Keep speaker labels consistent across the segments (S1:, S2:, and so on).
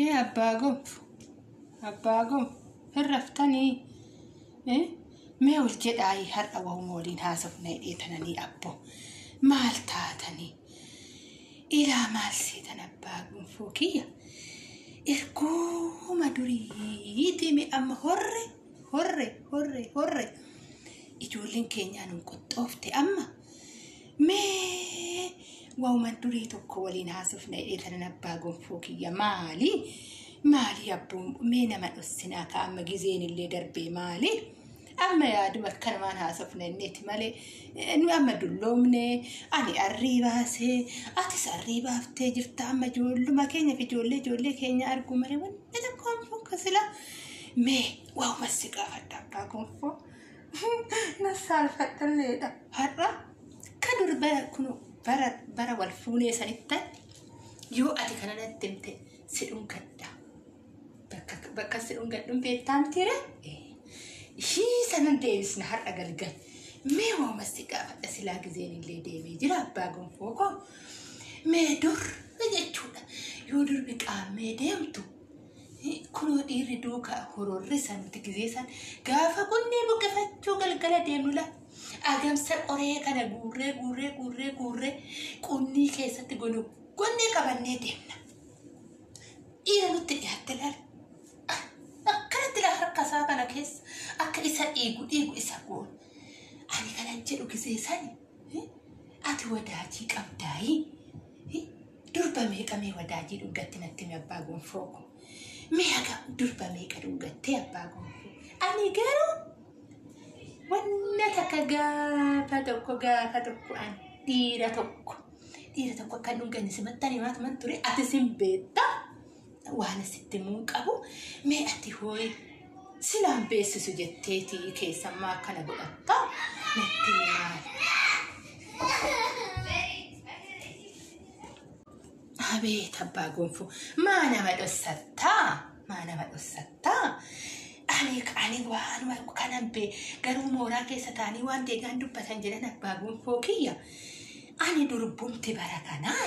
S1: Ee abbaa gob abbaa gob hin raftanii Eh, mee ol jedhaayii har'a wahuma waliin haasofna hidhee tananii abbo maal taatanii ilaa maal seetan abbaa gonfoo kiyya erguma duriitii mee amma horre horre horre horre ijoolleen keenyaan hin qoxxoofte amma Mee waa'uma durii tokko waliin haasofna jedhee tanan abbaa gonfoo kiyya maali? Maali abbuun mee nama dhossinaa ka amma gizeen illee darbee maali? Amma yaaduma akkanumaan haasofna inniiti malee eh, nu amma dulloomne ani arrii baasee atis arrii baaftee jirta amma ijoolluma keenya fi ijoollee ijoollee keenya arguu malee wanni tokko hin fokkasila. Mee waa'uma si gaafadha abbaa gonfoo. Nassaalfadhalleedha. Har'a ka dur bara kun bara bara wal fuunee sanitti yoo ati kana natti himte si dhungadha. Bakka bakka si dhungadhuun beektaa mitiire? Ishii sanan deebisna har'a galgal. Mee waama si gaafadha silaa gizeen illee deemee jira abbaa gonfoo koo. Mee dur jechuudha yoo durbi qaammee deemtu Kunoo dhiirri duuka hororri san nuti gizee san gaafa kunnee buqqifachuu galgala deemnu la agamsa qoree kana guurree guurree guurree guurree qunnii keessatti gonu gonnee qabannee deemna. Dhiira nutti dhiyaatte laala. Akkanatti la harka isaa kana keessa akka isa dhiigu dhiigu isa goona. Ani kanan jedhu gizee sani Ati wadaajii qabdaayii? Durba meeqa mee wadaajii dhuggatti natti himi abbaa gonfoo ko. Mee haga durba meeqa dhuggattee abbaa gonfoo? Ani garuu wanna takka gaafa tokko gaafa tokko ani dhiira tokko dhiira tokko akka hin dhugganne simattan himaatuman ture ati sin beetta Waan sitti himuun qabu mee ati hooyi silaan beeksisu jetteeti keessammaa akkana godhatta natti himaa. Abeet abbaa gonfoo maa nama dhossattaa maa nama dhossattaa ani ani waan waan kanan bee garuu mooraa keessa taanii waan deegaan dubbatan jedhan abbaa gonfoo kiyya ani durbumti bara kanaa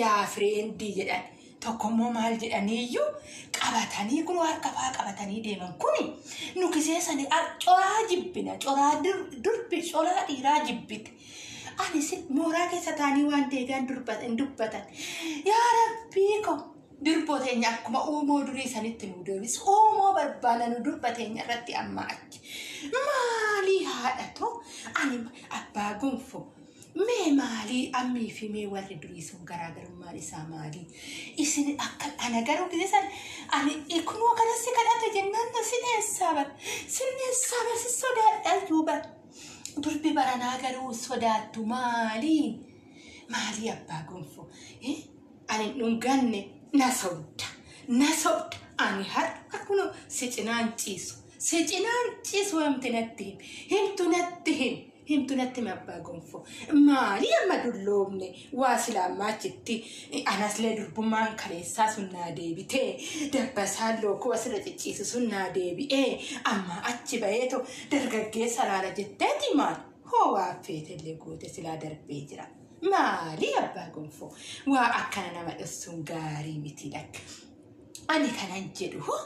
S1: yaa fireendii jedhan tokkommoo maal jedhanii iyyuu qabatanii kun harka faa qabatanii deeman kuni nu kiseessanii ar- coraa jibbina coraa dur- durbi coraa dhiiraa jibbite ani si mooraa keessa taanii waan deegaan durba- hin dubbatan yaa rabbii ko durboo teenya akkuma uumoo durii sanitti nu deebisu uumoo barbaana nu durba teenya irratti amma achi maalii haadha too ani abbaa gonfoo Mee maalii ammii fi mee warri durii sun garaagarummaan isaa maalii? Isin akka ana garuu gisee san ani ikunoo kana si kadhate jennaan na si dheessaa bar. Si dheessaa bar si sodaadhaa iyyuu bar. Durbi baranaa garuu sodaattu maalii? Maalii abbaa gonfoo? Eh? Ani hin dhunganne na sobda. Na sobda. Ani har'a kunoo si cinaan ciisu. Si cinaan ciisu himti natti him. Himtu natti him. Himtu natti hime abbaa gonfoo. Maali amma dulloomne waa silaa ammaa achitti anaslee durbummaan kaleessaa sun naa deebitee dabbasaan lookoo asirra cicciisu sun naa deebi'ee amma achi baheetu dargaggeessa laala jetteeti maal hoo waa feetellee goote silaa darbee jira. Maali abbaa gonfoo waa akkana nama dhossuun gaarii miti lakka. Ani kanan jedhu hoo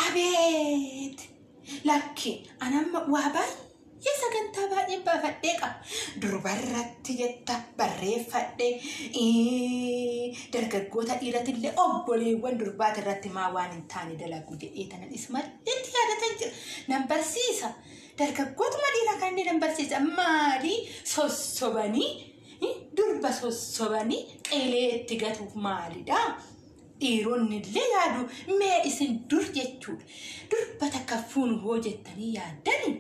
S1: abeet Lakki an amma waa baay'ee sagantaa baay'een baafadhee qaba. Durbarratti jetta barreeffadhe. Ee, Dargaggoota dhiirati illee obboleewwan durbaati irratti maa waan hin taane dalagu jedhee tanan is malleetti yaadatan jira. Nan barsiisa. Dargaggootuma dhiiraa kan inni nan barsiisa. Maali sossobanii eh, durba sossobanii qileetti gatuuf maalidha? Dhiironnillee yaadu mee isin dur jechuudha. Durba takka fuunu hoo jettanii yaaddani?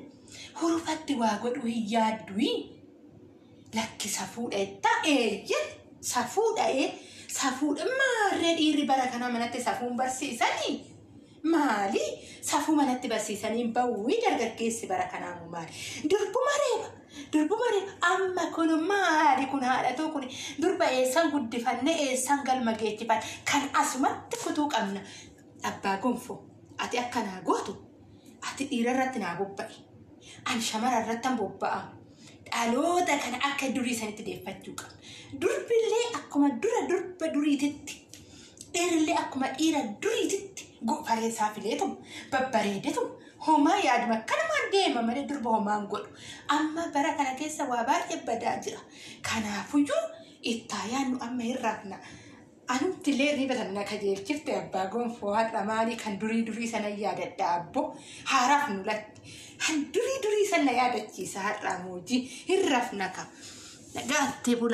S1: Hurufatti waa godhuu hin yaadduyi? Lakki safuudha jettaa eeyye safuudha ee safuudha maarree dhiirri bara kanaa manatti safuun barsiisanii? Maali? Safuu manatti barsiisanii bawwii dargaggeessi bara kanaa moo maali? Durbuma reeba! Durbuma reeba! Amma kun maali kun haadhatoo kun durba eessan guddifanne eessan galma geechifan kan asumatti kutuu qabna. Abbaa gonfoo ati akka naa gootu ati dhiira irratti naa bobba'i. An shamara irratti an bobba'a. Dhaloota kana akka durii sanitti deeffachuu qabna. Durbillee akkuma dura durba duriititti Dhiirillee akkuma dhiira duriititti gopharee isaa fileetum babbareedetum homaa yaaduma akkanumaan deema malee durba homaa hin godhu. Amma bara kana keessa waa baay'ee badaa jira. Kanaafuyyuu ittaa yaadnu amma hin raafna. Anumti illee hirriba sana na qajeelchifte abbaa gonfoo har'a maalii kan durii durii sana yaadadha abboo haaraaf nu latti. Kan durii durii sana yaadachiisa har'aa moojii hin rafna ka. Nagaatti bulaa.